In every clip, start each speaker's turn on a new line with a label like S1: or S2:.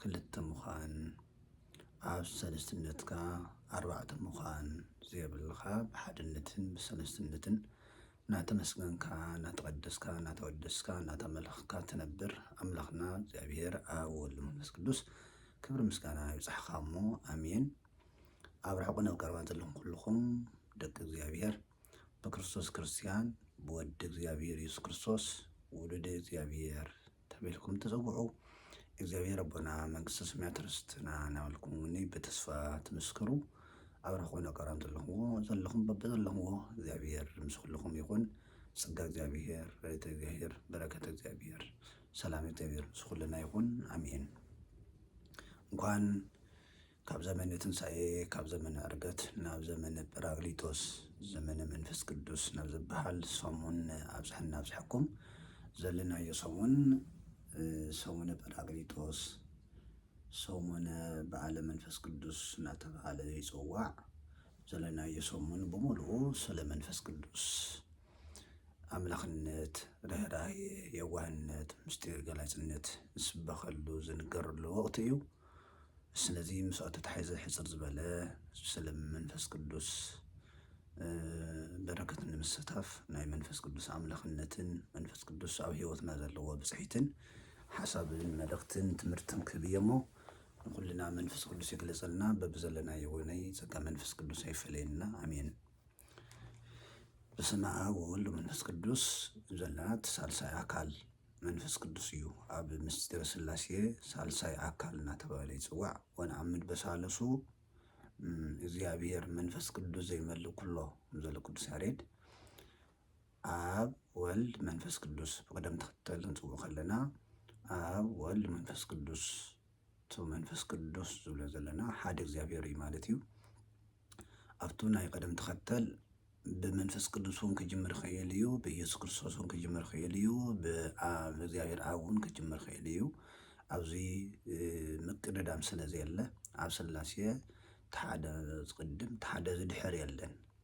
S1: ክልተ ምዃን ኣብ ሰልስትነትካ ኣርባዕተ ምዃን ዘየብልኻ ብሓድነትን ብሰልስትነትን እናተመስገንካ እናተቐደስካ እናተወደስካ እናተመለኽካ ትነብር ኣምላኽና እግዚኣብሔር ኣብ ወልድ መንፈስ ቅዱስ ክብሪ ምስጋና ይብጻሕኻ እሞ ኣሜን። ኣብ ርሑቕን ኣብ ቀረባን ዘለኹም ኩልኹም ደቂ እግዚኣብሔር ብክርስቶስ ክርስቲያን ብወዲ እግዚኣብሔር ኢየሱስ ክርስቶስ ውሉደ እግዚኣብሔር ተብልኩም ትጽውዑ እግዚኣብሔር ኣቦና መንግስተ ሰማያት ርስትና ናበልኩም እውኒ ብተስፋ ትምስክሩ ኣብራኾ ነቀራን ዘለኹዎ ዘለኹም በብዘለኹዎ እግዚኣብሔር ምስ ኩልኹም ይኹን ጸጋ እግዚኣብሔር ረድኤተ እግዚኣብሔር በረከተ እግዚኣብሔር ሰላም እግዚኣብሔር ምስ ኩልና ይኹን ኣሜን። እንኳን ካብ ዘመነ ትንሣኤ ካብ ዘመነ ዕርገት ናብ ዘመነ ጰራቅሊጦስ ዘመነ መንፈስ ቅዱስ ናብ ዝበሃል ሰሙን ኣብጽሐና ኣብጽሐኩም ዘለናዮ ሰሙን ሰሙነ ጰራቅሊጦስ ሰሙነ በዓለ መንፈስ ቅዱስ እናተብሃለ ይጽዋዕ ዘለናዮ ሰሙን ብምሉኡ ስለ መንፈስ ቅዱስ ኣምላኽነት፣ ርህራሄ፣ የዋህነት፣ ምስጢር ገላጽነት ዝስበኸሉ ዝንገረሉ ወቕቲ እዩ። ስለዚ ምስኡ ተታሒዘ ሕጽር ዝበለ ስለም መንፈስ ቅዱስ በረከት ንምስታፍ ናይ መንፈስ ቅዱስ ኣምላኽነትን መንፈስ ቅዱስ ኣብ ህይወትና ዘለዎ ብጽሒትን ሓሳብን መልእኽትን ትምህርትን ክህብ እየ እሞ ንኹልና መንፈስ ቅዱስ ይግለጸልና በብዘለናዮ ወይነይ ጸጋ መንፈስ ቅዱስ ኣይፈለየና ኣሜን። በስመ አብ ወወልድ ወመንፈስ ቅዱስ ዘላት ሳልሳይ አካል መንፈስ ቅዱስ እዩ። ኣብ ምስጢረ ሥላሴ ሣልሳይ ኣካል እናተባህለ ይጽዋዕ። ወነአምን በሣልሱ እግዚኣብሔር መንፈስ ቅዱስ ዘይመልእ ኩሎ ዘለ ቅዱስ ያሬድ ኣብ ወልድ መንፈስ ቅዱስ ብቅደም ተኸተል ክንጽውዖ ከለና ኣብ ወልድ መንፈስ ቅዱስ እቱ መንፈስ ቅዱስ ዝብሎ ዘለና ሓደ እግዚኣብሔር እዩ ማለት እዩ። ኣብቱ ናይ ቐደም ተኸተል ብመንፈስ ቅዱስ እውን ክጅምር ይኽእል እዩ፣ ብኢየሱስ ክርስቶስ እውን ክጅምር ይኽእል እዩ፣ ብኣብ እግዚኣብሔር ኣብ እውን ክጅምር ይኽእል እዩ። ኣብዚ ምቅድዳም ስለ ዘየለ ኣብ ስላሴ እቲ ሓደ ዝቕድም እቲ ሓደ ዝድሕር የለን።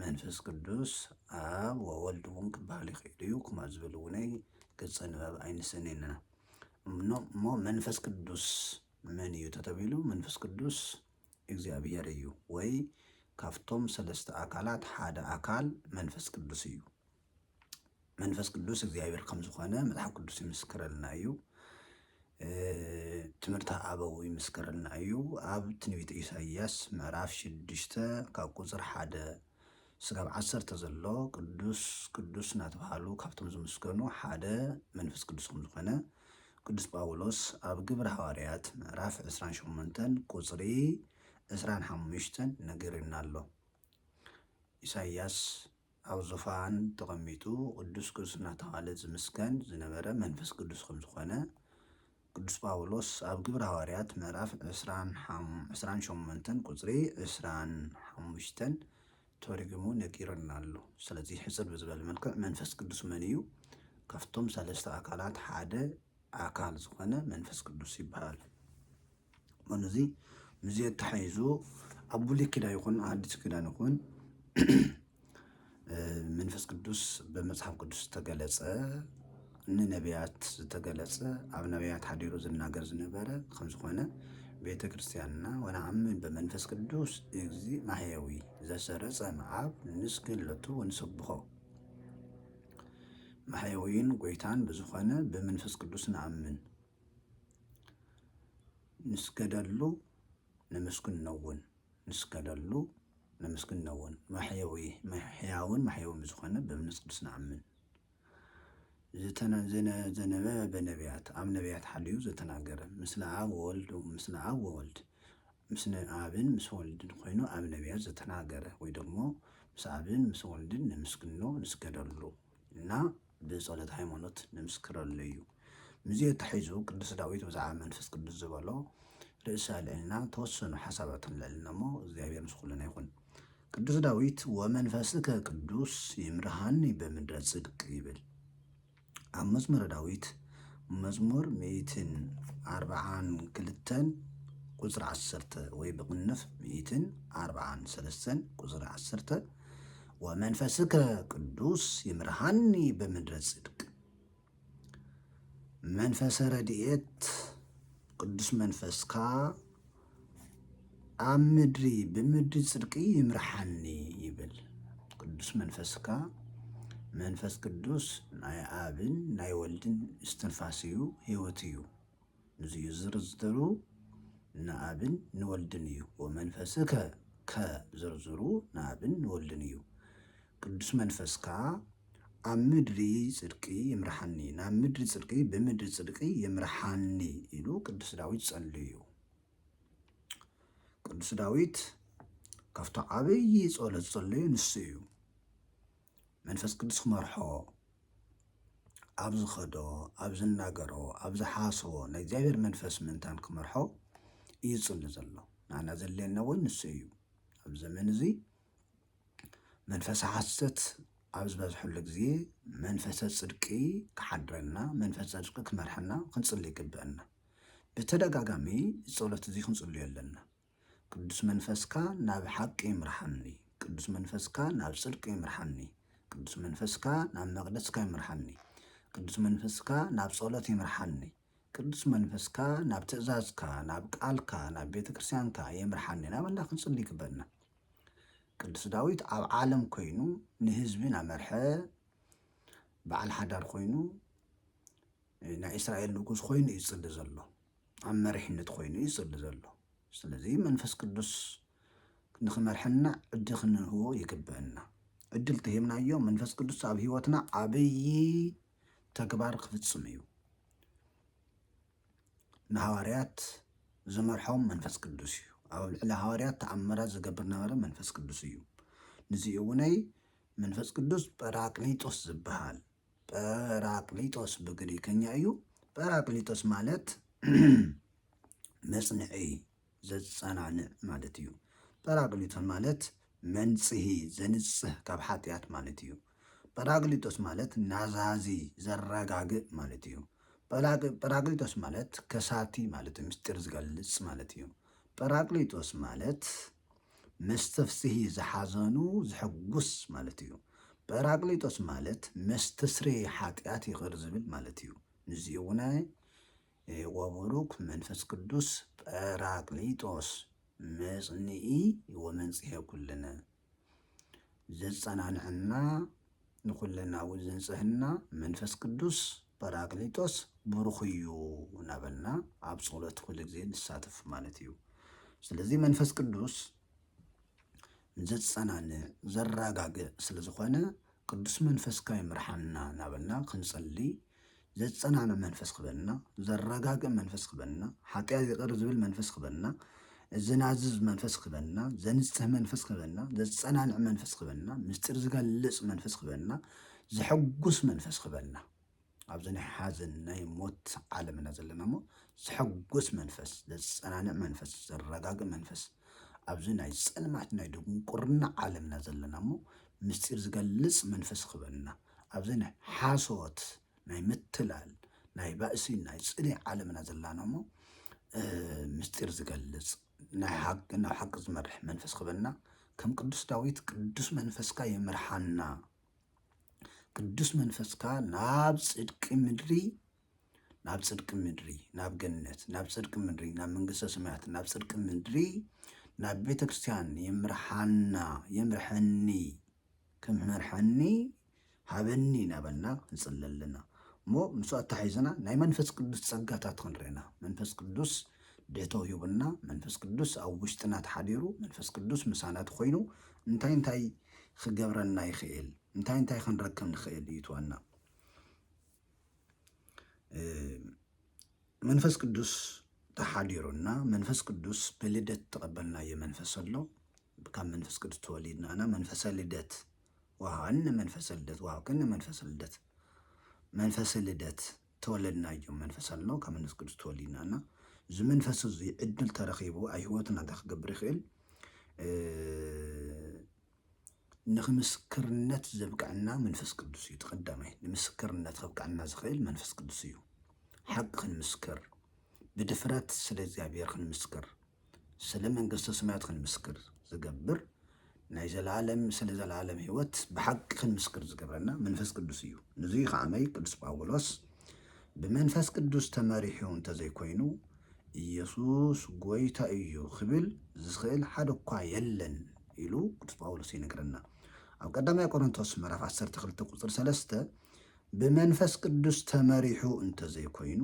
S1: መንፈስ ቅዱስ ኣብ ወወልድ እውን ክበሃል ይኽእል እዩ ኩማ ዝብል እውነይ ገፀ ንባብ ኣይንሰነይ ኣለና እሞ መንፈስ ቅዱስ መን እዩ ተተቢሉ መንፈስ ቅዱስ እግዚኣብሔር እዩ ወይ ካብቶም ሰለስተ ኣካላት ሓደ ኣካል መንፈስ ቅዱስ እዩ መንፈስ ቅዱስ እግዚኣብሔር ከም ዝኾነ መጽሓፍ ቅዱስ ይምስክረልና እዩ። እ፣ ትምህርቲ ኣበው ይምስክረልና እዩ። ኣብ ትንቢት ኢሳይያስ ምዕራፍ ሽዱሽተ ካብ ቁጽር ሓደ ስጋብ ዓሰርተ ዘሎ ቅዱስ ቅዱስ እናተባህሉ ካብቶም ዝምስገኑ ሓደ መንፈስ ቅዱስ ከም ዝኾነ ቅዱስ ጳውሎስ ኣብ ግብሪ ሃዋርያት ምዕራፍ 28 ቁጽሪ 25 ነጊሩና ኣሎ። ኢሳይያስ ኣብ ዙፋን ተቐሚጡ ቅዱስ ቅዱስ እናተባህለ ዝምስገን ዝነበረ መንፈስ ቅዱስ ከም ዝኾነ ቅዱስ ጳውሎስ ኣብ ግብረ ሃዋርያት ምዕራፍ ዕስራን ሸሞንተን ቁፅሪ ዕስራን ሓሙሽተን ተሪጉሙ ነጊሩና ኣሎ። ስለዚ ሕፅር ብዝበለ መልክዕ መንፈስ ቅዱስ መን እዩ? ካብቶም ሰለስተ ኣካላት ሓደ ኣካል ዝኾነ መንፈስ ቅዱስ ይበሃል። እሞ ነዚ ምስዚ ኣተሓሒዙ ኣብ ብሉይ ኪዳን ይኹን ሓዲስ ኪዳን ይኹን መንፈስ ቅዱስ ብመጽሓፍ ቅዱስ ዝተገለጸ ንነቢያት ዝተገለጸ ኣብ ነቢያት ሓዲሩ ዝናገር ዝነበረ ከም ዝኾነ ቤተ ክርስቲያንና ወነኣምን ብመንፈስ ቅዱስ እዚ ማሕየዊ ዘሰረጸ መዓብ ንስግለቱ ወንሰብሖ ማሕየዊን ጎይታን ብዝኾነ ብመንፈስ ቅዱስ ንኣምን ንስገደሉ ነመስግነውን ንስገደሉ ነመስግነውን ማሕየዊ ሕያውን ማሕየውን ብዝኾነ ብምንጽ ቅዱስ ንኣምን። ዘነበ በነብያት ኣብ ነብያት ሓልዩ ዘተናገረ ምስለ ኣብ ወወልድ ምስለ ኣብ ወወልድ ምስለ ኣብን ምስ ወልድን ኮይኑ ኣብ ነብያት ዘተናገረ ወይ ደግሞ ምስ ኣብን ምስ ወልድን ነመስግኖ ንስገደሉ እና ብጸሎት ሃይማኖት ንምስክረሉ እዩ። ምስዚ ኣተሓሒዙ ቅዱስ ዳዊት ብዛዕባ መንፈስ ቅዱስ ዝበሎ ርእሰ ኣልዕልና ተወሰኑ ሓሳባት ክንልዕልና እሞ እግዚኣብሔር ምስ ኩልና ይኹን። ቅዱስ ዳዊት ወመንፈስከ ቅዱስ ይምርሃኒ በምድረ ጽድቅ ይብል። ኣብ መዝሙረ ዳዊት መዝሙር ሚእትን ኣርብዓን ክልተን ቁፅሪ ዓሰርተ ወይ ብቕንፍ ሚእትን ኣርብዓን ሰለስተን ቁፅሪ ዓሰርተ ወመንፈስከ ቅዱስ ይምርሃኒ በምድረ ጽድቅ መንፈሰ ረድኤት ቅዱስ መንፈስካ ኣብ ምድሪ ብምድሪ ጽድቂ ይምርሓኒ ይብል ቅዱስ መንፈስካ መንፈስ ቅዱስ ናይ ኣብን ናይ ወልድን እስትንፋስ እዩ ህይወት እዩ ንዙዩ ዝርዝሩ ንኣብን ንወልድን እዩ ወመንፈስ ከ ከ ዝርዝሩ ንኣብን ንወልድን እዩ ቅዱስ መንፈስካ ኣብ ምድሪ ጽድቂ ይምርሓኒ ናብ ምድሪ ጽድቂ ብምድሪ ጽድቂ ይምርሓኒ ኢሉ ቅዱስ ዳዊት ጸልዩ እዩ ቅዱስ ዳዊት ካብቶ ዓብዪ ጸሎት ጸልዩ ንሱ እዩ መንፈስ ቅዱስ ክመርሖ ኣብ ዝኸዶ ኣብ ዝናገሮ ኣብ ዝሓስቦ ናይ እግዚኣብሔር መንፈስ ምእንታን ክመርሖ እዩ ዝፅሊ ዘሎ ንኣና ዘድልየና እውን ንሱ እዩ ኣብ ዘመን እዚ መንፈስ ሓሰት ኣብ ዝበዝሐሉ ግዜ መንፈሰ ፅድቂ ክሓድረና መንፈስ ፅድቂ ክመርሐና ክንፅሊ ይግብአና ብተደጋጋሚ ጸሎት እዚ ክንጽልዮ ኣለና ቅዱስ መንፈስካ ናብ ሓቂ ይምርሓኒ ቅዱስ መንፈስካ ናብ ጽድቂ ይምርሓኒ ቅዱስ መንፈስካ ናብ መቕደስካ ይምርሓኒ ቅዱስ መንፈስካ ናብ ጸሎት ይምርሓኒ ቅዱስ መንፈስካ ናብ ትእዛዝካ ናብ ቃልካ ናብ ቤተ ክርስቲያንካ የምርሓኒ ናብ ኣላ ክንጽሊ ይግበና ቅዱስ ዳዊት ኣብ ዓለም ኮይኑ ንህዝቢ ናመርሐ በዓል ሓዳር ኮይኑ ናይ እስራኤል ንጉስ ኮይኑ እዩ ዝፅሊ ዘሎ ኣብ መሪሕነት ኮይኑ እዩ ዝፅሊ ዘሎ ስለዚ መንፈስ ቅዱስ ንክመርሐና ዕድል ክንህቦ ይግብእና ዕድል ተሂብናዮ መንፈስ ቅዱስ ኣብ ህይወትና ዓብዪ ተግባር ክፍፅም እዩ ንሃዋርያት ዝመርሖም መንፈስ ቅዱስ እዩ ኣብ ልዕሊ ሃዋርያት ተኣምራት ዝገብር ነበረ መንፈስ ቅዱስ እዩ ንዚኡ እውነይ መንፈስ ቅዱስ ጰራቅሊጦስ ዝበሃል ጰራቅሊጦስ ብግሪከኛ እዩ። ጰራቅሊጦስ ማለት መጽንዒ ዘጸናንዕ ማለት እዩ። ጰራቅሊጦስ ማለት መንጽሂ ዘንጽህ ካብ ሓጢኣት ማለት እዩ። ጰራቅሊጦስ ማለት ናዛዚ ዘረጋግእ ማለት እዩ። ጰራቅሊጦስ ማለት ከሳቲ ማለት ምስጢር ዝገልጽ ማለት እዩ። ጰራቅሊጦስ ማለት ምስ ትፍስሂ ዝሓዘኑ ዝሕጉስ ማለት እዩ። ጰራቅሊጦስ ማለት መስትስሬ ሓጢኣት ይቅር ዝብል ማለት እዩ። ንዚኡውነ ወቡሩክ መንፈስ ቅዱስ ጰራቅሊጦስ መጽንኢ ወመንጽሔ ኩልነ ዘጸናንዐና ንኩለናዊ ዝንጽህና መንፈስ ቅዱስ ጰራቅሊጦስ ብሩክ እዩ ናበልና ኣብ ጾሎት ኩሉ ግዜ ንሳተፍ ማለት እዩ ስለዚ መንፈስ ቅዱስ ዘጸናንዕ ዘራጋግእ ስለ ዝኮነ ቅዱስ መንፈስካ ይምርሓና ናበልና ክንጽሊ ዘጸናንዕ መንፈስ ክበና፣ ዘረጋግእ መንፈስ ክበና፣ ሓጢኣት ይቕር ዝብል መንፈስ ክበና፣ ዘናዝዝ መንፈስ ክበና፣ ዘንጽህ መንፈስ ክበና፣ ዘጸናንዕ መንፈስ ክበና፣ ምስጢር ዝገልጽ መንፈስ ክበና፣ ዘሐጉስ መንፈስ ክበና። ኣብዚ ናይ ሓዘን ናይ ሞት ዓለም ኢና ዘለና እሞ ዘሐጉስ መንፈስ፣ ዘጸናንዕ መንፈስ፣ ዘረጋግእ መንፈስ ኣብዚ ናይ ጸልማት ናይ ድንቁርና ዓለምና ዘለና እሞ ምስጢር ዝገልጽ መንፈስ ክበና። ኣብዚ ናይ ሓሶት ናይ ምትላል ናይ ባእሲ ናይ ጽልኢ ዓለምና ዘላና እሞ ምስጢር ዝገልጽ ናይ ሓቂ ናብ ሓቂ ዝመርሕ መንፈስ ክበና ከም ቅዱስ ዳዊት ቅዱስ መንፈስካ ይምርሓና ቅዱስ መንፈስካ ናብ ጽድቂ ምድሪ ናብ ጽድቂ ምድሪ ናብ ገነት ናብ ጽድቂ ምድሪ ናብ መንግስተ ሰማያት ናብ ጽድቂ ምድሪ ናብ ቤተ ክርስቲያን ይምርሓና ይምርሐኒ ክመርሓኒ ሃበኒ ናበልና ክንጽሊ ኣለና እሞ ምስ ኣታሒዝና ናይ መንፈስ ቅዱስ ጸጋታት ክንርኢና መንፈስ ቅዱስ ደቶ ሂቡና መንፈስ ቅዱስ ኣብ ውሽጥና ተሓዲሩ መንፈስ ቅዱስ ምሳና ተኮይኑ እንታይ እንታይ ክገብረና ይኽእል እንታይ እንታይ ክንረክብ ንኽእል እዩ ትዋና መንፈስ ቅዱስ ተሓዲሩና መንፈስ ቅዱስ ብልደት ተቐበልናዮ መንፈስ ኣሎ ካብ መንፈስ ቅዱስ ተወሊድና እና መንፈሰ ልደት ወሃኒ መንፈሰ ልደት ወሃብክን መንፈሰ ልደት መንፈሰ ልደት ተወለድናዮ መንፈስ ኣሎ ካብ መንፈስ ቅዱስ ተወሊድና እና እዚ መንፈስ እዚ ዕድል ተረኺቡ ኣብ ህይወትና እንታይ ክገብር ይኽእል ንክምስክርነት ዘብቅዐና መንፈስ ቅዱስ እዩ። ተቀዳማይ ንምስክርነት ከብቅዐና ዝኽእል መንፈስ ቅዱስ እዩ። ሓቂ ክንምስክር ብድፍረት ስለ እግዚኣብሔር ክንምስክር ስለ መንግስተ ሰማያት ክንምስክር ዝገብር ናይ ዘለዓለም ስለ ዘለዓለም ህይወት ብሓቂ ክንምስክር ዝገብረና መንፈስ ቅዱስ እዩ። ንዙ ከዓመይ ቅዱስ ጳውሎስ ብመንፈስ ቅዱስ ተመሪሑ እንተዘይኮይኑ ኢየሱስ ጎይታ እዩ ክብል ዝኽእል ሓደ እኳ የለን ኢሉ ቅዱስ ጳውሎስ ይነግረና ኣብ ቀዳማይ ቆሮንቶስ ምዕራፍ 12 ቁፅሪ 3 ብመንፈስ ቅዱስ ተመሪሑ እንተዘይኮይኑ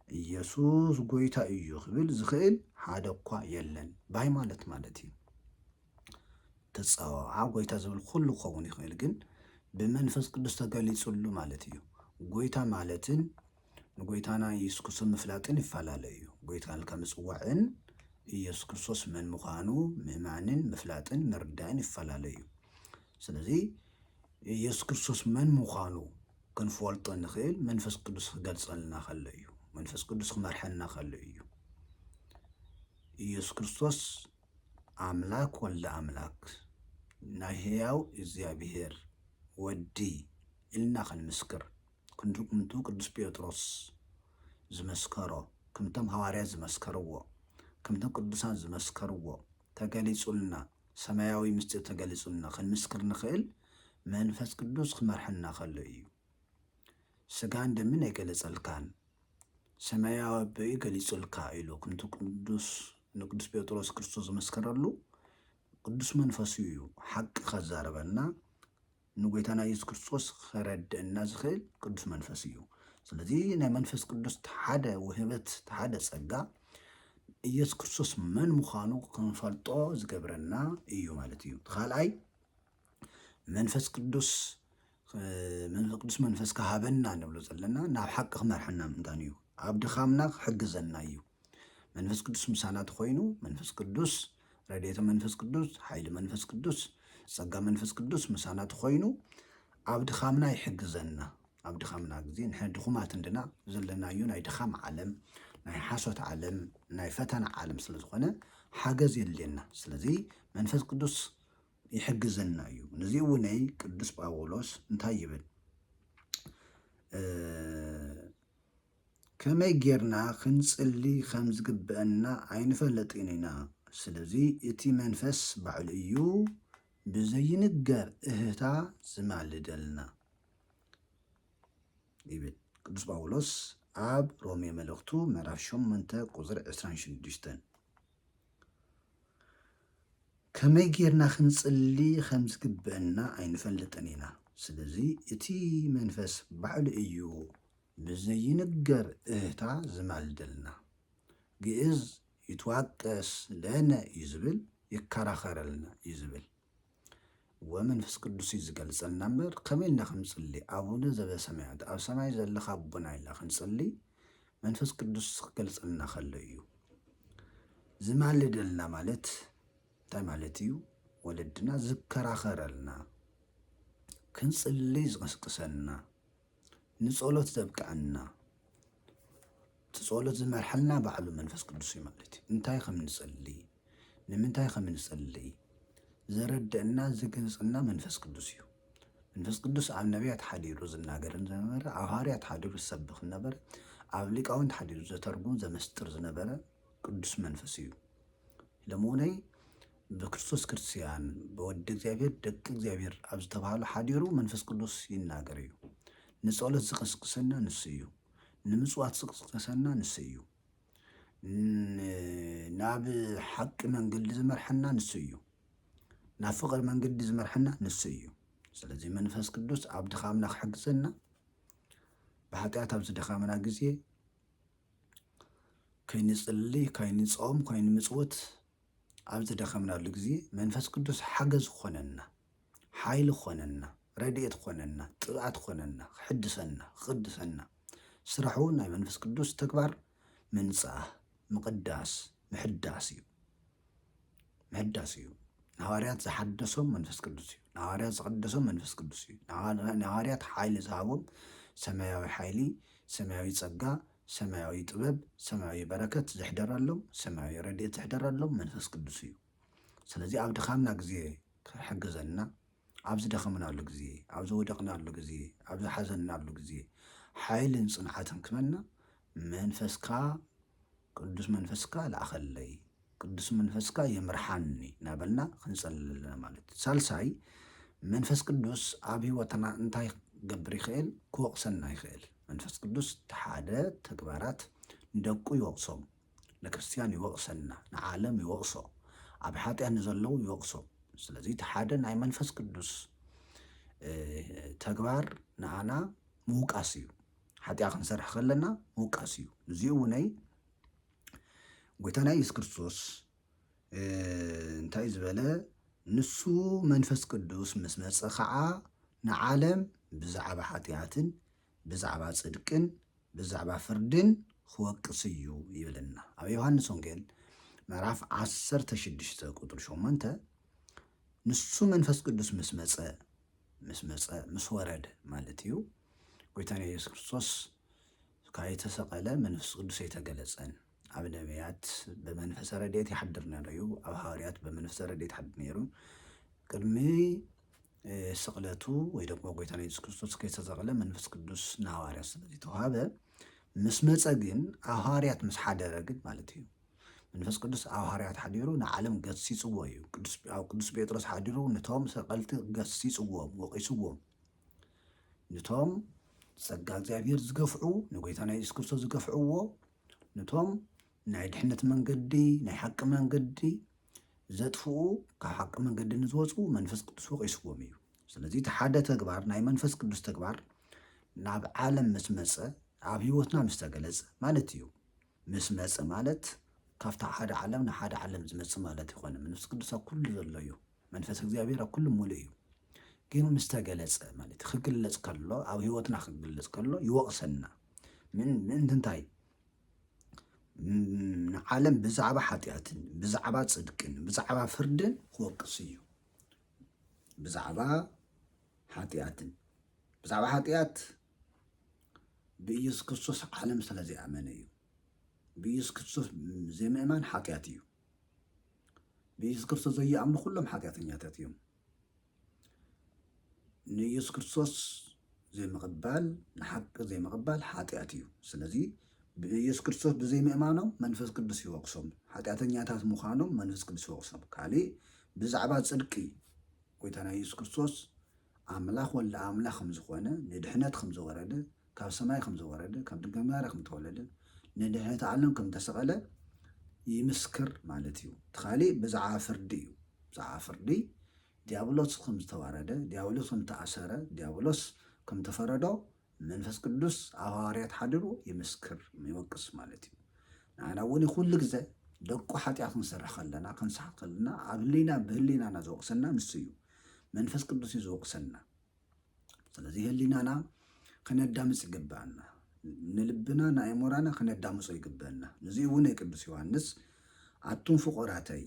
S1: ኢየሱስ ጎይታ እዩ ክብል ዝኽእል ሓደ እኳ የለን ባይ ማለት ማለት እዩ ተፀዋዓ ጎይታ ዝብል ኩሉ ክኸውን ይኽእል ግን ብመንፈስ ቅዱስ ተገሊፅሉ ማለት እዩ ጎይታ ማለትን ንጎይታና ኢየሱስ ክርስቶስ ምፍላጥን ይፈላለ እዩ። ጎይታ ኢልካ ምጽዋዕን ኢየሱስ ክርስቶስ መን ምዃኑ ምእማንን ምፍላጥን ምርዳእን ይፈላለ እዩ። ስለዚ ኢየሱስ ክርስቶስ መን ምዃኑ ክንፈልጦ ንኽእል መንፈስ ቅዱስ ክገልጸልና ከሎ እዩ። መንፈስ ቅዱስ ክመርሐና ከሎ እዩ። ኢየሱስ ክርስቶስ ኣምላክ ወልደ ኣምላክ ናይ ህያው እግዚኣብሔር ወዲ ኢልና ክንምስክር ክንዲ እምንቱ ቅዱስ ጴጥሮስ ዝመስከሮ፣ ከምቶም ሃዋርያት ዝመስከርዎ፣ ከምቶም ቅዱሳን ዝመስከርዎ ተገሊጹልና፣ ሰማያዊ ምስጢር ተገሊጹልና ክንምስክር ንኽእል መንፈስ ቅዱስ ክመርሐና ከሎ እዩ። ስጋን ደምን ኣይገለጸልካን ሰማያዊ ኣቦ እዩ ገሊጹልካ ኢሉ ከምቲ ቅዱስ ንቅዱስ ጴጥሮስ ክርስቶስ ዝመስከረሉ ቅዱስ መንፈሱ እዩ ሓቂ ከዛረበና ንጎይታና የሱስ ክርስቶስ ኸረድእና ዝኽእል ቅዱስ መንፈስ እዩ። ስለዚ ናይ መንፈስ ቅዱስ ተሓደ ውህበት ተሓደ ጸጋ ኢየሱስ ክርስቶስ መን ምዃኑ ክንፈልጦ ዝገብረና እዩ ማለት እዩ። ካልኣይ መንፈስ ቅዱስ መንፈስ ቅዱስ መንፈስ ክሃበና ንብሎ ዘለና ናብ ሓቂ ክመርሐና ምእንታን እዩ። ኣብ ድኻምና ክሕግዘና እዩ። መንፈስ ቅዱስ ምሳና ተኮይኑ መንፈስ ቅዱስ ረድኤተ መንፈስ ቅዱስ ሓይሊ መንፈስ ቅዱስ ጸጋ መንፈስ ቅዱስ ምሳና ተኮይኑ ኣብ ድኻምና ይሕግዘና ኣብ ድኻምና ግዜ ንሕና ድኹማት እንድና ዘለናዮ ናይ ድኻም ዓለም ናይ ሓሶት ዓለም ናይ ፈተና ዓለም ስለ ዝኾነ ሓገዝ የድልየና ስለዚ መንፈስ ቅዱስ ይሕግዘና እዩ ነዚ እውነይ ቅዱስ ጳውሎስ እንታይ ይብል ከመይ ጌርና ክንጽሊ ኸም ዚግብኣና ኣይንፈልጥን ኢና። ስለዚ፣ እቲ መንፈስ ባዕሉ እዩ ብዘይንገር እህህታ ዚማልደልና ይብል ቅዱስ ጳውሎስ ኣብ ሮሜ መልእኽቱ ምዕራፍ ሸሞንተ ቁጽሪ ዕስራን ሽዱሽተን። ከመይ ጌርና ክንጽሊ ኸም ዚግብኣና ኣይንፈልጥን ኢና። ስለዚ፣ እቲ መንፈስ ባዕሉ እዩ ብዘይንገር እህታ ዝማልደልና። ግእዝ ይትዋቀስ ለነ እዩ ዝብል ይከራኸረልና እዩ ዝብል ወመንፍስ ቅዱስ እዩ ዝገልጸልና እምበር ከመይ ኢልና ክንጽሊ ኣቡነ ዘበሰማያት ኣብ ሰማይ ዘለኻ ኣቦና ኢልና ክንጽሊ መንፈስ ቅዱስ ክገልጸልና ከሎ እዩ ዝማልደልና ማለት እንታይ ማለት እዩ ወለድና ዝከራኸረልና ክንጽሊ ዝቕስቅሰና ንጸሎት ዘብቅዐና እቲ ጸሎት ዝመርሐልና ባዕሉ መንፈስ ቅዱስ እዩ ማለት እዩ። እንታይ ከም ንጸልይ ንምንታይ ከም ንጸልይ ዘረድእና ዝገልጸና መንፈስ ቅዱስ እዩ። መንፈስ ቅዱስ ኣብ ነቢያት ሓዲሩ ዝናገር ዝነበረ፣ ኣብ ሃዋርያት ሓዲሩ ዝሰብኽ ነበረ፣ ኣብ ሊቃውንት ሓዲሩ ዘተርጉም ዘመስጥር ዝነበረ ቅዱስ መንፈስ እዩ። ለመሆነይ ብክርስቶስ ክርስቲያን ብወዲ እግዚኣብሔር ደቂ እግዚኣብሔር ኣብ ዝተብሃሉ ሓዲሩ መንፈስ ቅዱስ ይናገር እዩ። ንጸሎት ዝቅስቅሰና ንሱ እዩ። ንምጽዋት ዝቅስቅሰና ንሱ እዩ። ናብ ሓቂ መንገዲ ዝመርሐና ንሱ እዩ። ናብ ፍቅሪ መንገዲ ዝመርሐና ንሱ እዩ። ስለዚ መንፈስ ቅዱስ ኣብ ድኻምና ክሕግዘና ብሓጢኣት ኣብ ዝደኻምና ግዜ ከይንጽሊ ከይንጾም ከይንምጽውት ኣብ ዝደኸምናሉ ግዜ መንፈስ ቅዱስ ሓገዝ ክኾነና፣ ሓይሊ ክኾነና፣ ረድኤት ክኾነና፣ ቅብኣት ክኾነና፣ ክሕድሰና፣ ክቕድሰና፣ ስራሑ ናይ መንፈስ ቅዱስ ተግባር ምንጻህ፣ ምቕዳስ፣ ምሕዳስ እዩ። ምሕዳስ እዩ። ንሃዋርያት ዝሓደሶም መንፈስ ቅዱስ እዩ። ንሃዋርያት ዝቐደሶም መንፈስ ቅዱስ እዩ። ንሃዋርያት ሓይሊ ዝሃቦም ሰማያዊ ሓይሊ፣ ሰማያዊ ጸጋ፣ ሰማያዊ ጥበብ ሰማያዊ በረከት ዝሕደረሎም ሰማያዊ ረድኤት ዝሕደረሎም መንፈስ ቅዱስ እዩ። ስለዚ ኣብ ድኻምና ግዜ ክሕግዘና ኣብ ዝደኸምናሉ ግዜ ኣብ ዝወደቕናሉ ግዜ ኣብ ዝሓዘናሉ ግዜ ሓይልን ጽንዓትን ክበና መንፈስካ ቅዱስ መንፈስካ ለኣኸለይ ቅዱስ መንፈስካ ይምርሓኒ እናበልና ክንጸልል ኣለና ማለት እዩ ሳልሳይ መንፈስ ቅዱስ ኣብ ህይወትና እንታይ ክገብር ይኽእል ክወቕሰና ይኽእል መንፈስ ቅዱስ ተሓደ ተግባራት ንደቁ ይወቕሶም ንክርስትያን ይወቕሰና ንዓለም ይወቕሶ ኣብ ሓጢያ ንዘለዉ ይወቕሶ ስለዚ እቲ ሓደ ናይ መንፈስ ቅዱስ ተግባር ንኣና ምውቃስ እዩ ሓጢያ ክንሰርሕ ከለና ምውቃስ እዩ እዚኡ እውነይ ጎይታና ኢየሱስ ክርስቶስ እንታይ እዩ ዝበለ? ንሱ መንፈስ ቅዱስ ምስ መፀ ከዓ ንዓለም ብዛዕባ ሓጢኣትን ብዛዕባ ፅድቅን ብዛዕባ ፍርድን ክወቅስ እዩ ይብለና። ኣብ ዮሃንስ ወንጌል ምዕራፍ 16 ቁጥሪ 8 ንሱ መንፈስ ቅዱስ ምስ መፀ ምስ መፀ ምስ ወረደ ማለት እዩ ጎይታና ኢየሱስ ክርስቶስ ካይተሰቀለ መንፍስ ቅዱስ ኣይተገለጸን ኣብ ነብያት ብመንፈሰ ረድኤት ይሓድር ነሩ ዩ ኣብ ሃዋርያት ብመንፈሰ ረድኤት ይሓድር ነሩ ቅድሚ ስቅለቱ ወይ ደግሞ ጎይታ ኢየሱስ ክርስቶስ ከይተሰቀለ መንፈስ ቅዱስ ንሃዋርያት ስለዘይተዋሃበ ምስ መፀ ግን ኣብ ሃዋርያት ምስ ሓደረ ግን ማለት እዩ መንፈስ ቅዱስ ኣብ ሃዋርያት ሓዲሩ ንዓለም ገሲጽዎ እዩ ኣብ ቅዱስ ጴጥሮስ ሓዲሩ ነቶም ሰቀልቲ ገሲጽዎም ወቂስዎም ንቶም ጸጋ እግዚኣብሔር ዝገፍዑ ንጎይታና የሱስ ክርስቶስ ዝገፍዕዎ ንቶም ናይ ድሕነት መንገዲ ናይ ሓቂ መንገዲ ዘጥፍኡ ካብ ሓቂ መንገዲ ንዝወፁ መንፈስ ቅዱስ ወቂስዎም እዩ ስለዚ እቲ ሓደ ተግባር ናይ መንፈስ ቅዱስ ተግባር ናብ ዓለም ምስ መፀ ኣብ ህይወትና ምስ ተገለፀ ማለት እዩ ምስ መጸ ማለት ካብታ ሓደ ዓለም ንሓደ ዓለም ዝመጽእ ማለት ኣይኮነን። መንፈስ ቅዱስ ኣብ ኩሉ ዘሎ እዩ። መንፈስ እግዚኣብሔር ኣብ ኩሉ ምሉእ እዩ። ግን ምስ ተገለጸ ማለት እዩ። ክግለጽ ከሎ ኣብ ህይወትና ክግለጽ ከሎ ይወቕሰና። ምን ምእንቲ እንታይ? ም- ንዓለም ብዛዕባ ሓጢኣትን ብዛዕባ ጽድቅን ብዛዕባ ፍርድን ክወቅስ እዩ። ብዛዕባ ሓጢኣትን ብዛዕባ ሓጢኣት ብኢየሱስ ክርስቶስ ዓለም ስለ ዘይኣመነ እዩ። ብኢየሱስ ክርስቶስ ዘይምእማን ሓጢኣት እዩ። ብኢየሱስ ክርስቶስ ዘይኣምኑ ኩሎም ሓጢኣተኛታት እዮም። ንኢየሱስ ክርስቶስ ዘይምቕባል ንሓቂ ዘይምቕባል ሓጢኣት እዩ። ስለዚ ብኢየሱስ ክርስቶስ ብዘይምእማኖም መንፈስ ቅዱስ ይወቅሶም፣ ሓጢኣተኛታት ምዃኖም መንፈስ ቅዱስ ይወቅሶም። ካልእ ብዛዕባ ጽድቂ ጎይታና ኢየሱስ ክርስቶስ ኣምላኽ ወልደ ኣምላኽ ከም ዝኾነ ንድሕነት ከም ዘወረደ ካብ ሰማይ ከም ዘወረደ ካብ ድንግል ማርያ ከም ተወለደ ንድሕነት ዓለም ከም ተሰቐለ ይምስክር ማለት እዩ እቲ ካሊእ ብዛዕባ ፍርዲ እዩ ብዛዕባ ፍርዲ ዲያብሎስ ከም ዝተዋረደ ዲያብሎስ ከም ተኣሰረ ዲያብሎስ ከም ተፈረዶ መንፈስ ቅዱስ ኣብ ሃዋርያት ሓዲሩ ይምስክር፣ ይወቅስ ማለት እዩ። ንዓና እውን ኩሉ ግዘ ደቁ ሓጢኣት ክንሰርሕ ከለና ክንስሓት ከለና ኣብ ህሊና ብህሊናና ዝወቅሰና ንሱ እዩ። መንፈስ ቅዱስ እዩ ዝወቅሰና። ስለዚ ህሊናና ክነዳምፅ ይግብኣና። ንልብና ንኣእምሮና ክነዳምፆ ይግብአና። ንዚ እውን ቅዱስ ዮሃንስ ኣቱም ፍቁራተይ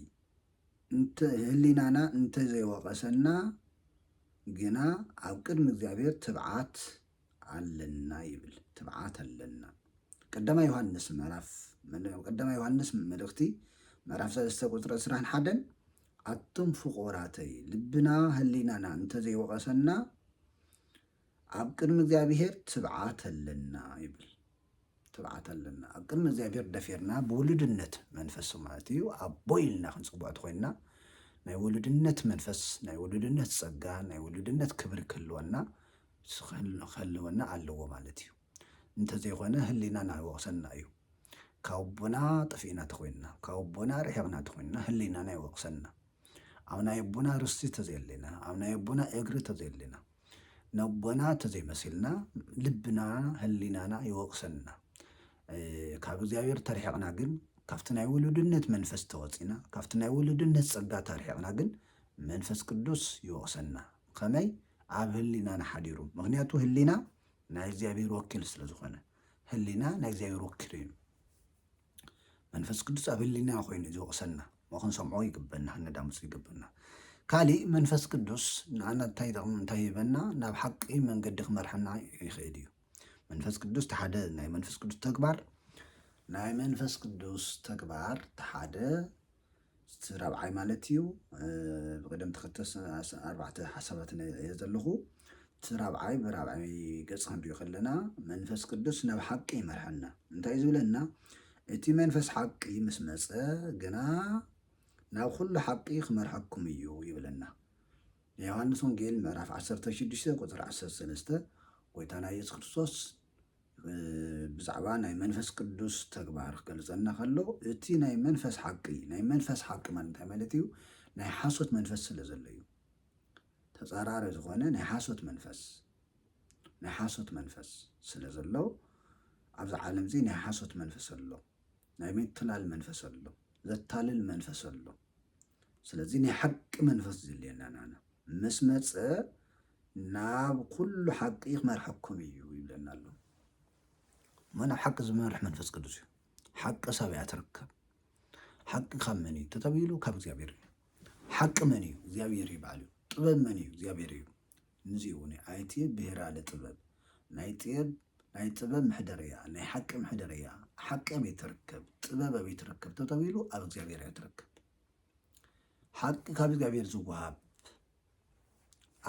S1: ህሊናና እንተ ዘይወቐሰና ግና ኣብ ቅድሚ እግዚኣብሔር ትብዓት ኣለና ይብል። ትብዓት ኣለና ቀዳማይ ዮሃንስ ምዕራፍ ቀዳማይ ዮሃንስ መልእኽቲ ምዕራፍ ሰለስተ ቁፅሪ ዕስራን ሓደን ኣቱም ፍቑራተይ ልብና ህሊናና እንተ ዘይወቐሰና ኣብ ቅድሚ እግዚኣብሔር ትብዓት ኣለና ይብል ትብዓት ኣለና ኣብ ቅድሚ እግዚኣብሔር ደፊርና ብውሉድነት መንፈስ ማለት እዩ ኣቦ ኢልና ክንፅውዕ ትኮይንና ናይ ውሉድነት መንፈስ ናይ ውሉድነት ፀጋ ናይ ውሉድነት ክብሪ ክህልወና ክህልወና ኣለዎ ማለት እዩ እንተዘይኮነ ህሊናና ይወቅሰና እዩ ካብ ኣቦና ጠፊእና ተኮይንና ካብ ኣቦና ርሒቅና ተኮይንና ህሊናና ይወቅሰና ኣብ ናይ ኣቦና ርስቲ ተዘየለና ኣብ ናይ ኣቦና እግሪ ተዘየለና ነቦና ተዘይመሲልና ልብና ህሊናና ይወቅሰና ካብ እግዚኣብሔር ተርሒቕና ግን ካብቲ ናይ ውሉድነት መንፈስ ተወፂና ካብቲ ናይ ውሉድነት ፀጋ ተርሒቕና ግን መንፈስ ቅዱስ ይወቕሰና ከመይ ኣብ ህሊናና ሓዲሩ ምክንያቱ ህሊና ናይ እግዚኣብሔር ወኪል ስለ ዝኾነ ህሊና ናይ እግዚኣብሔር ወኪል እዩ መንፈስ ቅዱስ ኣብ ህሊና ኮይኑ ዝወቕሰና እሞ ክንሰምዖ ይግበና ከነዳምፁ ይግበና ካሊእ መንፈስ ቅዱስ ንኣና እንታይ ጠቕሚ እንታይ ይህበና ናብ ሓቂ መንገዲ ክመርሐና ይኽእል እዩ መንፈስ ቅዱስ ተሓደ ናይ መንፈስ ቅዱስ ተግባር ናይ መንፈስ ቅዱስ ተግባር ተሓደ እቲ ራብዓይ ማለት እዩ ብቅደም ተኸተል ኣርባዕተ ሓሳባት እየ ዘለኹ እቲ ራብዓይ ብራብዓይ ገፅ ክንሪኦ ከለና መንፈስ ቅዱስ ናብ ሓቂ ይመርሐና እንታይ እዩ ዝብለና እቲ መንፈስ ሓቂ ምስ መፀ ግና ናብ ኩሉ ሓቂ ክመርሐኩም እዩ ይብለና። ዮሃንስ ወንጌል ምዕራፍ 16 ቁፅሪ 13 ጎይታና ኢየሱስ ክርስቶስ ብዛዕባ ናይ መንፈስ ቅዱስ ተግባር ክገልጸልና ከሎ እቲ ናይ መንፈስ ሓቂ ናይ መንፈስ ሓቂ ማለት እንታይ ማለት እዩ? ናይ ሓሶት መንፈስ ስለ ዘሎ እዩ። ተጻራሪ ዝኾነ ናይ ሓሶት መንፈስ ናይ ሓሶት መንፈስ ስለ ዘሎ ኣብዚ ዓለም እዚ ናይ ሓሶት መንፈስ ኣሎ፣ ናይ ምትላል መንፈስ ኣሎ፣ ዘታልል መንፈስ ኣሎ። ስለዚ ናይ ሓቂ መንፈስ ዝልየና ናና ምስ መፀ ናብ ኩሉ ሓቂ ክመርሐኩም እዩ ይብለና ኣሎ እሞ ናብ ሓቂ ዝመርሕ መንፈስ ቅዱስ እዩ ሓቂ ሰብ እያ ትርከብ ሓቂ ካብ መን እዩ ተተብሂሉ ካብ እግዚኣብሔር እዩ ሓቂ መን እዩ እግዚኣብሔር እዩ በዓል እዩ ጥበብ መን እዩ እግዚኣብሔር እዩ ንዙይ እውን እዩ ኣይቲ ብሄራ ለጥበብ ናይ ጥየብ ናይ ጥበብ ምሕደርያ ናይ ሓቂ ምሕደርያ ሓቂ ኣበይ ትርከብ ጥበብ ኣበይ ትርከብ ተተቢሉ ኣብ እግዚኣብሔር እያ ትርከብ ሓቂ ካብ እግዚኣብሔር ዝወሃብ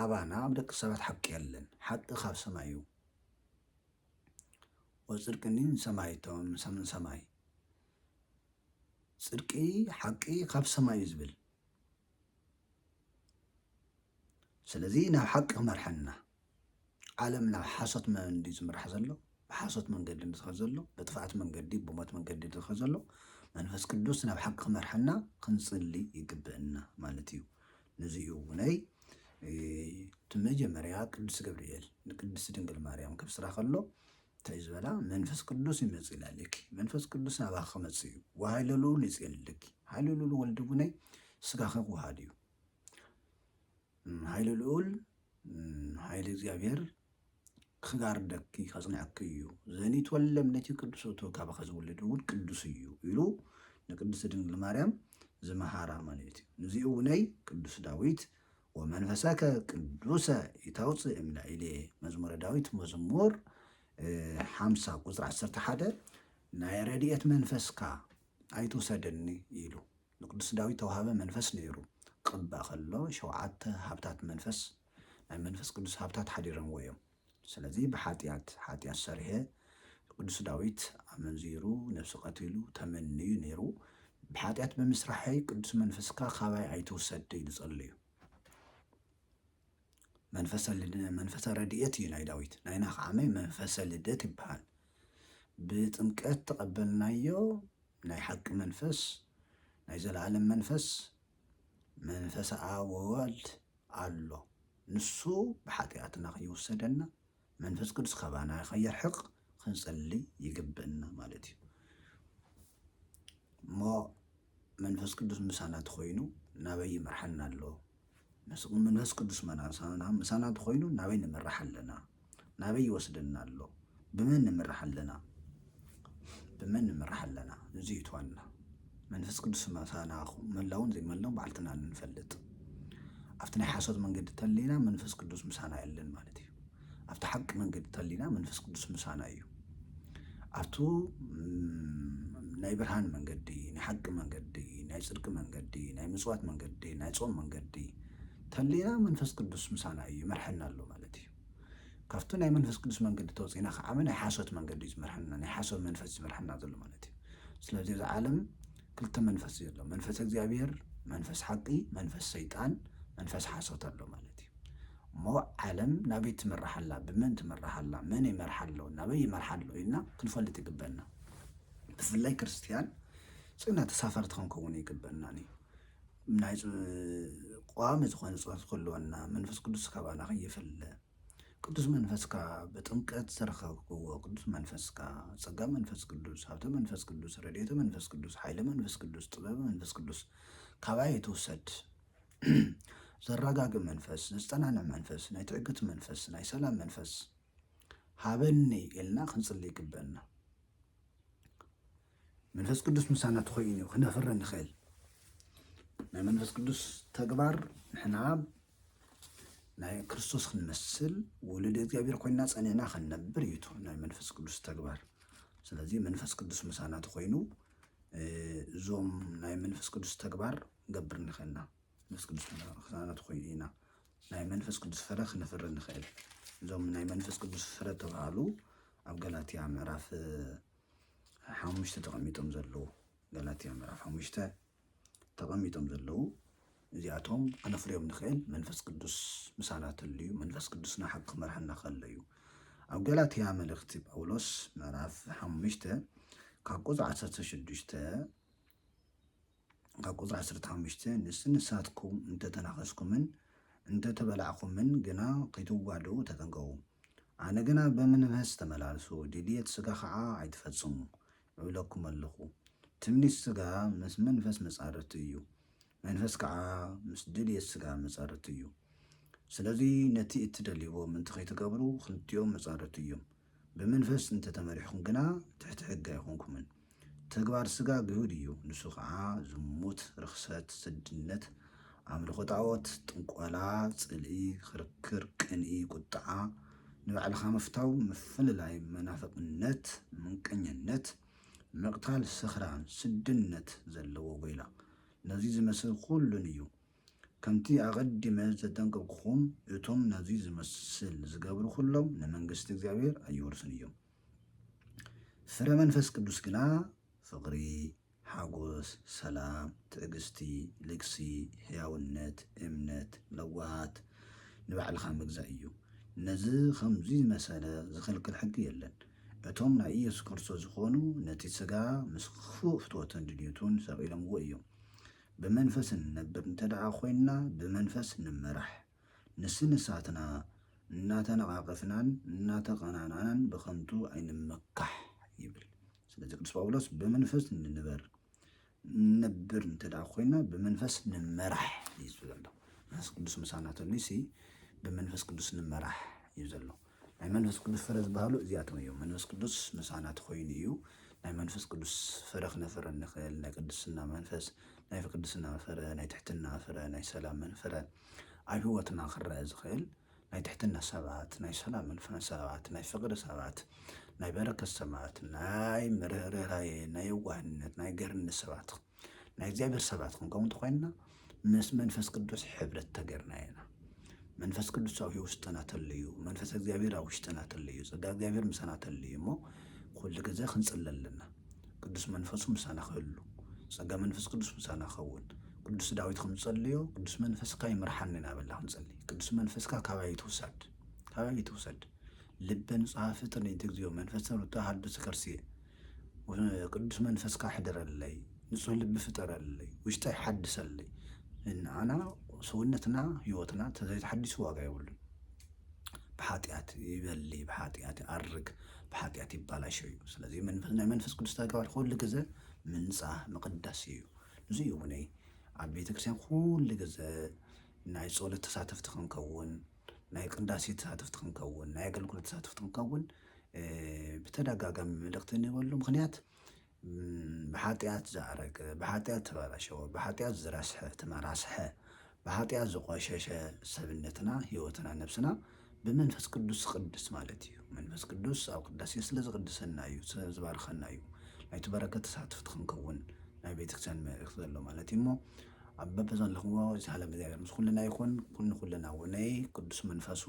S1: ኣባና ኣብ ደቂ ሰባት ሓቂ የለን ሓቂ ካብ ሰማይ እዩ ወፅድቅኒ ሰማይ እቶም ሰምን ሰማይ ፅድቂ ሓቂ ካብ ሰማይ እዩ ዝብል ስለዚ ናብ ሓቂ ክመርሐና ዓለም ናብ ሓሶት መንዲ ዝምራሕ ዘሎ ብሓሶት መንገዲ ዝኸ ዘሎ ብጥፍኣት መንገዲ ብሞት መንገዲ ዝኸ ዘሎ መንፈስ ቅዱስ ናብ ሓቂ ክመርሐና ክንፅሊ ይግብእና ማለት እዩ ነዚ እዩ እውነይ እቲ መጀመርያ ቅዱስ ገብርኤል ንቅድስቲ ድንግል ማርያም ከብስራ ከሎ እንታይ ዝበላ መንፈስ ቅዱስ ይመጽእላ ለኪ መንፈስ ቅዱስ ኣባኺ ክመጽእ እዩ ወሃይለ ልኡል ይጼልለኪ ሃይለ ልኡል ወልድ ጉነይ ስጋኺ ክወሃድ እዩ ሃይለ ልኡል ሃይለ እግዚኣብሔር ክጋርደኪ ከጽንዐኪ እዩ ዘኒት ወለም ነቲ ቅዱስ እቶ ካባኸ ዝውልድ እውን ቅዱስ እዩ ኢሉ ንቅድስቲ ድንግል ማርያም ዝመሃራ ማለት እዩ ንዚኡ እውነይ ቅዱስ ዳዊት ወመንፈሰከ ቅዱሰ ኢታውፅእ እምላኢሌ መዝሙረ ዳዊት መዝሙር ሓምሳ ቁፅሪ ዓሰርተ ሓደ ናይ ረድኤት መንፈስካ ኣይትውሰደኒ ኢሉ ንቅዱስ ዳዊት ተዋሃበ መንፈስ ነይሩ ቅባእ ከሎ ሸውዓተ ሃብታት መንፈስ ናይ መንፈስ ቅዱስ ሃብታት ሓዲረምዎ እዮም ስለዚ ብሓጢኣት ሓጢኣት ሰሪሔ ቅዱስ ዳዊት ኣመንዚሩ ነብሱ ቀቲሉ ተመንዩ ነይሩ ብሓጢኣት ብምስራሐይ ቅዱስ መንፈስካ ካባይ ኣይትውሰድ ኢሉ ጸልዩ መንፈሰ ልድ- መንፈሰ ረድኤት እዩ ናይ ዳዊት ናይና ከዓ መ- መንፈሰ ልደት ይበሃል ብጥምቀት ተቐበልናዮ ናይ ሓቂ መንፈስ ናይ ዘለኣለም መንፈስ መንፈሰ ኣብ ወወልድ ኣሎ ንሱ ብሓጥያትና ክይውሰደና መንፈስ ቅዱስ ካባና ከየርሕቅ ክንጽሊ ይግብእና ማለት እዩ እሞ መንፈስ ቅዱስ ምሳና ተኮይኑ ናበይ ይመርሓና ኣሎ መንፈስ ቅዱስ መናሳና ምሳና ተኮይኑ ናበይ ንምራሕ ኣለና ናበይ ይወስደና ኣሎ ብመን ንምራሕ ኣለና ብመን ንምራሕ ኣለና እዚ እዩ እቲ ዋና መንፈስ ቅዱስ ምሳና ይኹን መላውን ዘይመላውን ባዕልትና ንፈልጥ ኣብቲ ናይ ሓሶት መንገዲ ተሊና መንፈስ ቅዱስ ምሳና የለን ማለት እዩ ኣብቲ ሓቂ መንገዲ ተሊና መንፈስ ቅዱስ ምሳና እዩ ኣብቱ ናይ ብርሃን መንገዲ ናይ ሓቂ መንገዲ ናይ ፅድቂ መንገዲ ናይ ምፅዋት መንገዲ ናይ ፆም መንገዲ ተሊና መንፈስ ቅዱስ ምሳና እዩ ይመርሐና ኣሎ ማለት እዩ ካብቲ ናይ መንፈስ ቅዱስ መንገዲ ተወጺእና ከዓመ ናይ ሓሶት መንገዲ እዩ ዝመርሐና ናይ ሓሶት መንፈስ ዝመርሐና ዘሎ ማለት እዩ ስለዚ እዚ ዓለም ክልተ መንፈስ እዩ ዘሎ መንፈስ እግዚኣብሔር መንፈስ ሓቂ መንፈስ ሰይጣን መንፈስ ሓሶት ኣሎ ማለት እዩ እሞ ዓለም ናበይ ትምራሕ ኣላ ብመን ትምራሕ ኣላ መን ይመርሓ ኣሎ ናበይ ይመርሓ ኣሎ ኢልና ክንፈልጥ ይግበና ብፍላይ ክርስትያን ጽና ተሳፈርቲ ክንከውን ይግበና እዩ ናይ ቋሚ ዝኾነ ጸሎት ክህልወና መንፈስ ቅዱስ ካባና ከይፍለ ቅዱስ መንፈስካ ብጥምቀት ዝረኸብክዎ ቅዱስ መንፈስካ ጸጋ መንፈስ ቅዱስ ሃብተ መንፈስ ቅዱስ ረድኤተ መንፈስ ቅዱስ ሓይለ መንፈስ ቅዱስ ጥበብ መንፈስ ቅዱስ ካባይ ይትውሰድ ዘረጋግእ መንፈስ ዘጸናንዕ መንፈስ ናይ ትዕግት መንፈስ ናይ ሰላም መንፈስ ሃበኒ ኢልና ክንጽሊ ይግበና። መንፈስ ቅዱስ ምሳና ተኮይኑ እዩ ክነፍረ ንኽእል ናይ መንፈስ ቅዱስ ተግባር ንሕና ናይ ክርስቶስ ክንመስል ውሉድ እግዚኣብሔር ኮይና ፀኒዕና ክንነብር እዩ ናይ መንፈስ ቅዱስ ተግባር ስለዚ መንፈስ ቅዱስ ምሳና ተኮይኑ እዞም ናይ መንፈስ ቅዱስ ተግባር ገብር ንኽእልና መንፈስ ቅዱስ ምሳና ተኮይኑ ኢና ናይ መንፈስ ቅዱስ ፍረ ክነፍሪ ንኽእል። እዞም ናይ መንፈስ ቅዱስ ፍረ ተባሃሉ ኣብ ገላትያ ምዕራፍ ሓሙሽተ ተቐሚጦም ዘለዉ ገላትያ ምዕራፍ ሓሙሽተ ተቐሚጦም ዘለዉ እዚኣቶም ክነፍርዮም ንኽእል መንፈስ ቅዱስ ምሳና ተልዩ መንፈስ ቅዱስና ሓቂ ክመርሓና ከሎ እዩ ኣብ ገላትያ መልእኽቲ ጳውሎስ ምዕራፍ ሓሙሽተ ካብ ቁፅ ዓሰርተ ሽዱሽተ ካብ ቁጽሪ ዓሰርተ ሓሙሽተ ንስ ንሳትኩም እንተ ተናኸስኩምን እንተ ተበላዕኩምን ግና ኺትዋድኡ ተጠንቀቑ። ኣነ ግና ብምንምህስ ተመላለሱ፣ ድልየት ስጋ ኸኣ ኣይትፈጽሙ እብለኩም ኣሎኹ። ትምኒት ስጋ ምስ መንፈስ መጻርርቱ እዩ፣ መንፈስ ከኣ ምስ ድልየት ስጋ መጻርርቱ እዩ። ስለዚ ነቲ እትደልይዎ ምእንቲ ኺትገብሩ፣ ኽልቲኦም መጻርርቱ እዮም። ብመንፈስ እንተ ተመሪሕኩም ግና ትሕቲ ሕጊ ኣይኮንኩምን። ተግባር ስጋ ግሁድ እዩ፣ ንሱ ኸዓ፣ ዝሙት፣ ርኽሰት፣ ስድነት፣ ኣምልኾ ጣዖት፣ ጥንቆላ፣ ጽልኢ፣ ኽርክር፣ ቅንኢ፣ ቁጥዓ፣ ንባዕልኻ ምፍታው፣ ምፍልላይ፣ መናፍቕነት፣ ምንቀኛነት፣ ምቕታል፣ ስኽራን፣ ስድነት፣ ዘለዎ ጎይላ፣ ነዙይ ዝመስል ኹሉን እዩ። ከምቲ ኣቐዲመ ዘጠንቀቕኩኹም፣ እቶም ነዚ ዚመስል ዚገብሩ ዅሎም፣ ንመንግስቲ እግዚኣብሄር ኣይወርስን እዮም። ፍረ መንፈስ ቅዱስ ግና፣ ፍቕሪ፣ ሓጐስ፣ ሰላም፣ ትዕግስቲ፣ ልግሲ፣ ሕያውነት፣ እምነት፣ ለውሃት፣ ንባዕልኻ ምግዛእ እዩ። ነዚ ኸምዚ ዝመሰለ ዚኽልክል ሕጊ የለን። እቶም ናይ ኢየሱስ ክርስቶስ ዝዀኑ፣ ነቲ ስጋ ምስ ኽፉእ ፍትወቱን ድልዩቱን ሰቒሎምዎ እዮም። ብመንፈስ እንነብር እንተደኣ ኮይንና ብመንፈስ ንመራሕ። ንስንሳትና እናተነቓቐፍናን እናተቐናናእናን ብኸንቱ ኣይንመካሕ ይብል። ስለዚ ቅዱስ ጳውሎስ ብመንፈስ ንንበር እንነብር እንተደኣ ኮይንና ብመንፈስ ንመራሕ እዩ ዘሎ። መንፈስ ቅዱስ ምሳና ተልዩሲ ብመንፈስ ቅዱስ ንመራሕ እዩ ዘሎ። ናይ መንፈስ ቅዱስ ፍረ ዝበሃሉ እዚኣቶም እዮም። መንፈስ ቅዱስ ምሳና ተኾይኑ እዩ። ናይ መንፈስ ቅዱስ ፍረ ክነፍረ እንኽእል ናይ ቅድስና መንፈስ፣ ናይ ቅድስና ፍረ፣ ናይ ትሕትና ፍረ፣ ናይ ሰላምን ፍረ ኣብ ህይወትና ክረአ ዝኽእል ናይ ትሕትና ሰባት፣ ናይ ሰላምን ፍረ ሰባት፣ ናይ ፍቕሪ ሰባት፣ ናይ በረከት ሰባት፣ ናይ ምርህራሄ፣ ናይ የዋህነት፣ ናይ ገርነት ሰባት ናይ እግዚኣብሔር ሰባት ክንከውን ተኮይንና ምስ መንፈስ ቅዱስ ሕብረት ተገርና ኢና መንፈስ ቅዱስ ኣብ ውሽጥና ተለዩ መንፈስ እግዚኣብሔር ኣብ ውሽጥና ተለዩ ጸጋ እግዚኣብሔር ምሳና ተለዩ እሞ ኩሉ ግዜ ክንጽለ ኣለና ቅዱስ መንፈሱ ምሳና ክህሉ ጸጋ መንፈስ ቅዱስ ምሳና ክኸውን ቅዱስ ዳዊት ከም ዝጸልዮ ቅዱስ መንፈስካ ይምርሓኒ እናበልና ክንጸሊ ቅዱስ መንፈስካ ካባይ ትውሰድ ካባይ ትውሰድ ልበ ንጹሐ ፍጥር ንእቲ እግዚኦ መንፈሰ ርቱዐ ሀልብስ ከርስየ ቅዱስ መንፈስካ ኣሕድረለይ፣ ንጹህ ልቢ ፍጠረለይ፣ ውሽጠይ ሓድሰለይ። ንኣና ሰውነትና ህይወትና ተዘይተሓዲሱ ዋጋ የብሉን። ብሓጢኣት ይበሊ፣ ብሓጢኣት ይኣርግ፣ ብሓጢኣት ይባላሾ እዩ። ስለዚ ናይ መንፈስ ቅዱስ ተግባር ኩሉ ግዘ ምንፃህ ምቕዳስ እዩ። ንዙ እዩ እውነይ ኣብ ቤተክርስትያን ኩሉ ግዘ ናይ ፀሎት ተሳተፍቲ ክንከውን ናይ ቅዳሴ ተሳተፍቲ ክንከውን፣ ናይ ኣገልግሎት ተሳተፍቲ ክንከውን ብተደጋጋሚ መልእኽቲ እንህበሉ ምኽንያት ብሓጢኣት ዝኣረገ፣ ብሓጢኣት ዝተበላሸወ፣ ብሓጢኣት ዝረስሐ ተመራስሐ፣ ብሓጢኣት ዝቆሸሸ ሰብነትና፣ ህይወትና፣ ነብስና ብመንፈስ ቅዱስ ዝቅድስ ማለት እዩ። መንፈስ ቅዱስ ኣብ ቅዳሴ ስለ ዝቅድሰና እዩ፣ ስለ ዝባርኸና እዩ። ናይቲ በረከት ተሳተፍቲ ክንከውን ናይ ቤተክርስትያን መልእኽቲ ዘሎ ማለት እዩ እሞ ኣብ በብዘለኽዎ ዝሃለ እግዚኣብሔር ምስ ኩልና ይኹን ንኹልና ውነይ ቅዱስ መንፈሱ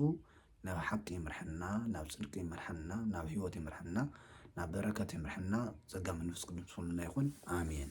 S1: ናብ ሓቂ ይምርሐና ናብ ጽድቂ ይምርሐና ናብ ህይወት ይምርሐና ናብ በረከት ይምርሐና ጸጋ መንፈስ ቅዱስ ምስ ኩልና ይኹን ኣሜን።